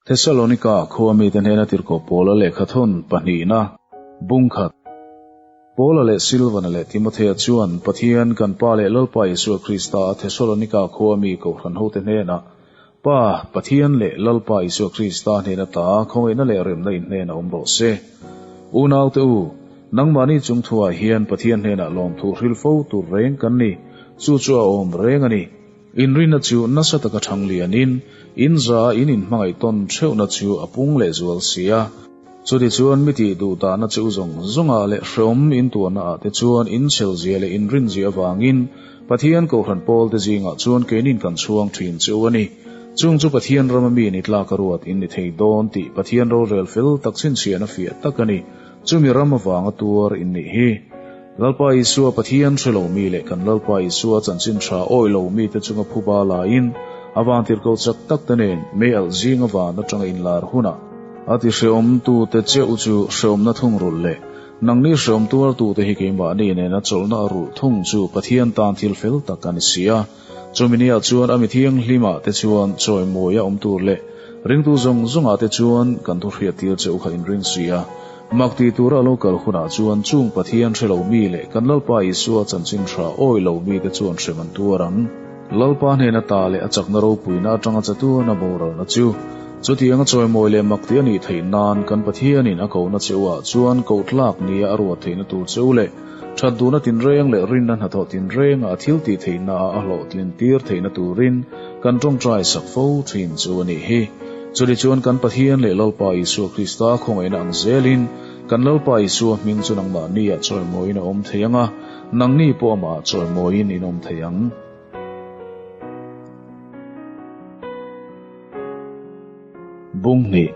Thesalonika khua mite hnena tirhkoh Paula lehkha thawn pahnihna bung khat. Paula leh Silvana leh Timothea chuan Pathian kan Pa leh Lalpa Isua Krista a Thesalonika khua mi kohhran hote hnena Pa Pathian leh Lalpa Isua Krista hnena ta khawngaihna leh remna inhnen a awm rawh se. Unaute u, nangmahni chung thuah hian Pathian hnenah lawmthu hrilh fo tur reng kan ni, chu chu a awm reng a ni. Inrinna chu nasa taka thang lianin inzaa in inhmangaih tawn theuhna chu a pung leh zual si a, chutichuan mitih duh tahna cheu zawng zawngah leh hreawm intuarna ah te chuan inchhelzia leh inrinzia avangin Pathian Kohhran pawlte zingah chuan keinin kan chhuang thin cheu a ni. Chung chu Pathian rama mi ni tlaka ruat in ni thei dawn tih Pathian rorel fel tak chhinchhiahna fiah tak a ni. Chumi ram avanga tuar innih hi Lalpa Isua Pathian hre lomi leh kan Lalpa Isua a chanchin tha awih lomi te chunga phu ba lain a vangtirhko chak tak te nen mei alh zinga van atanga inlar hunah a ti Hrehawmtute cheu chu hrehawmna thungrulh leh nangni hrehawm tuartute hi keimahni nena chawlhna a rulh thung chu Pathian tan thil fel tak a ni si a. Chumi ni ah chuan a mi thianghlim ah te chuan chawi mawi a awm tur leh ringtu zawng zawng ah te chuan kan thu hriat tir cheu kha in ring suih a. Mak ti tur a lo kal hun ah chuan chung Pathian hre lo mi leh kan Lalpa Isua chanchin hra awi lo mi te chuan hrem an tuar ang. Lalpa hnen a ta leh a chakna ropui na atang a che tu na boral na chu chutiang a chawi mawi leh mak ti a nih theih nan kan Pathian in a ko na cheu ah chuan koh tlak nia a ruat theih na tur cheu leh That duna tinreng leh rinna hnathawh tinrengah thil tih theihnaah a hlawhtlin tir theihna turin kan ṭawngṭai sak fo ṭhin chu a nih hi. Chuli chuan kan Pathian leh Lalpa Isua Krista khawngaihna ang zelin kan Lalpa Isua hming chu nangmah nia chawimawiin a awm thei ang a, nangni pawh amah chawimawiin in awm thei ang. Bung hni.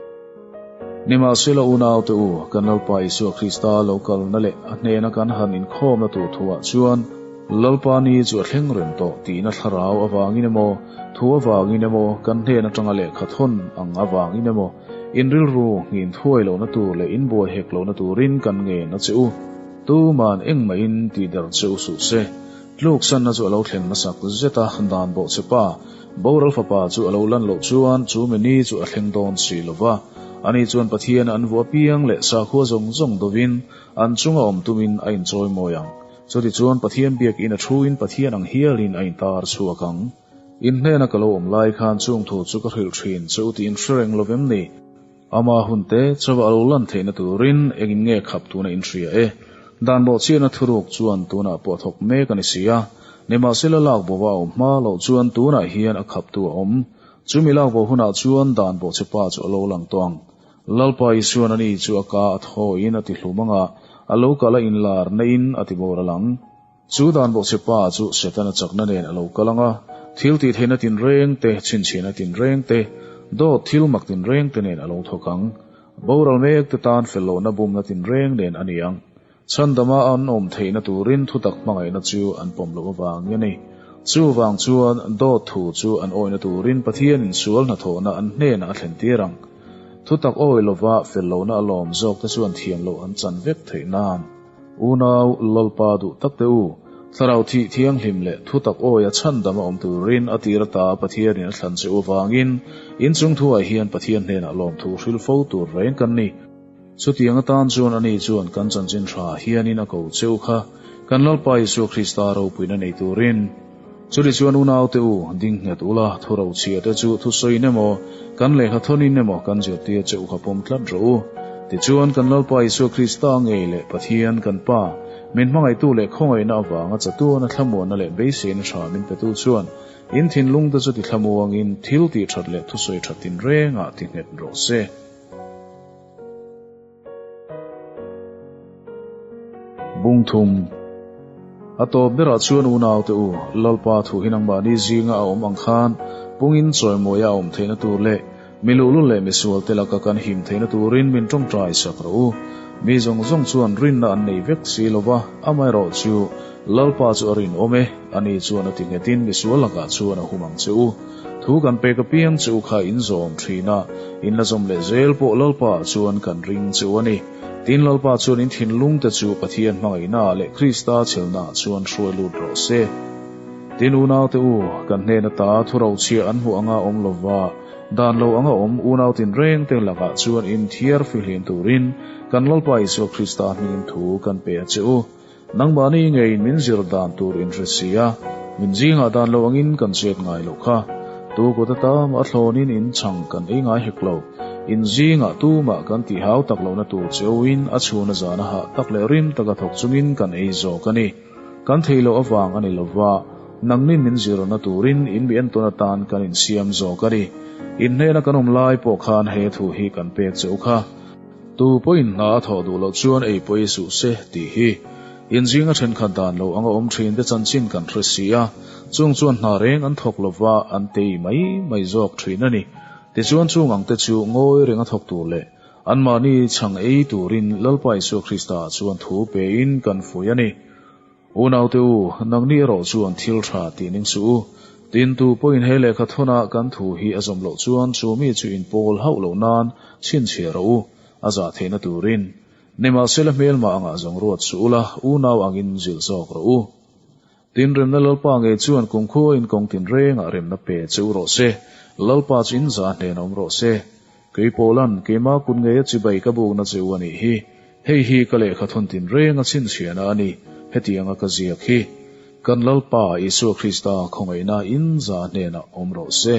Nimahsela unaute u, kan Lalpa Isua Krista lo kalna leh a hnena kan han inkhawmna tur thu-ah chuan Lalpa ni chu a thleng reng tawh tihna thlarau avangin emaw, thu avangin emaw, kan hnen atanga lehkha thawn ang avangin emaw, inrilru nghin thuai lohna tur leh inbuai hek lohna turin kan ngena che u. Tuman engmahin tihdarh che u suh se. Tluksanna chu a lo thlen hmasak zeta dan bawhchhepa, Boral fapa chu a lo lan loh chuan chu menu chu a thleng dawn si lo va, ani chuan Pathiana an vua piang leh sakhua zawng zawng dovin an chunga awm tumin a inchawi mawi ang. Chutichuan Pathian biakin a thuin Pathian ang hialin a intar chhuak ang. In hnena ka lo awm lai khan chungthu chu ka hrilh thin che u tiin hre reng lo vem ni? Ama hun te chauva a lo lan theihna turin engin nge khap tun a inhria e? Dan rawhchiahna thuruk chuan tunah pawh thawk mek a ni si a, nimahsela lak bo a awm hma loh chuan tunah hian a khaptu a awm. Chumi lak bo hunah chuan dan rawhchhe pa chu a lo lang tawh ang. Lalpa Isuan a ni chu a ka a thawiin a ti hlum anga a lo kalh a inlar naihin a ti bawr a lang. Chu dan bawk che pa chu Setana chakna nen a lo kal ang a, thil tihtheihna tinreng te, chhinchhiahna tinreng te, dawt thil mak tinreng te nen a lo thawk ang. Boral mek te tan fel lohna bumna tinreng nen a ni ang. Chhandama an awm theihna turin thutak hmangaihna chu an pawm loh avang i a ni. Chuvang chuan dawt thu chu an awihna turin Pathianin sual hna thawhna an hnenah a thlen tir ang. Thutak awi lova fel lohna a lawm zawk te chuan thiam loh an chan vek theih nan. Unau, Lawlpa duh tak teh u, Thlarau thih thianghlim leh thutak awi a chhan dam a awm turin a tir ata Pathianin a thlan che u avangin inchung thuai hian Pathian hnenah lawmthu hril fo tur reng kan ni. Chutiang atan chuan ani chuan kan chanchin hra hianin a ko che u kha, kan Lalpa Isua Krista ropuina nei turin. Chutih chuan unaute u dingnghet ula, thu rochhia te chu thu sawiin emaw, kan lehkha thawnin emaw kan zirtir che u kha pawm tlat rawh u. Tichuan, kan Lalpa Isua Krista a ngei leh Pathian kan Pa, min hmangaihtu leh khawngaihna avanga chatuana thlamuanna leh beiseina tha min petu chuan, in thinlungte chu ti thlamu angin thil tih that leh thusawi that tinrengah ti nghet rawh se. Bung thum a tawp berah chuan unaute u Lalpa thu hi nangmahni zinga a awm ang khan pungin chawimawia a awm theihna tur leh mi luhlul leh mi sualte laka kan him theihna turin min tawngtai sak rawh u. Mi zawng zawng chuan rinna an nei vek si lo va, amaherawh chu Lalpa chu a rinawm e, ani chuan a ti nghetin mi sual lakah chuan a hum ang che u. Thu kan pek apiang chu kha inzawm thin a, in la zawm leh zel pawh Lalpa ah chuan kan ring chu a ni. Tin, Lalpa chuan in thinlung te chu Pathian hmangaihna ah leh Krista chhelhna ah chuan hruai lut rawh se. Tin, Unaute u, kan hnen ata thurochhia an hmuh anga awm lo va, dan lo anga awm unau tin reng te lak ah chuan in thiar fihlim turin kan Lalpa Isua Krista hmingin thu kan pe a che u. Nangmahni ngeiin min zir dan tur in hre si a, min zingah dan lo angin kan chet ngai loh kha. Tu kut ata mah hlawnin in chhang kan ei ngai hek lo. In zingah tu mah kan tih hau tak lohna tur cheuhin a chhuna zana hah tak leh rim taka thawk chungin kan ei zawk a ni. Kan thei loh avang a ni lova, nangni min zirna turin in mi en tawn atan kan insiam zawk a ni. In hnena kan awm lai pawh khan he thu hi kan pek cheu kha. Tu pawhin hna a thawh duh loh chuan ei pawh i suh se tih hi inzinga thenkhat dan lo anga awm thin te chanchin kan hre si a, chung chuan hna reng an thawk lova an tei mai mai zawk thin a ni. Tichuan chung ang te chu ngawi reng a thawk tur leh anmahni chhang ei turin Lalpa Isua Krista-ah chuan thu pein kan fuih a ni. Unaute u, nang nih erawh chuan thil tha tih ning suh u. Tintu pawhin he lehkha thawnah kan thu hi a zawm loh chuan chu mi chu inpawl hauh loh nan chhinchhiar rawh u, a zah theihna turin. Nimahsela hmelma angah zawng ruat suh ula, unau angin zilh zawk rawh u. Tinremna Lalpa ngei chuan kumkhuain kawng tinrengah remna pe che u rawh se. Lalpa chu in zah hnenawm rawh se. Kei Pawlan, keimah kut ngeia chibai ka buk na che u a nih hi. Hei hi ka lehkha thawn tinreng a chhinchhiahna a ni, hetiang a ka ziak hi. Kan Lalpa Isua Krista khawngaihna in zah hnenah awm rawh se.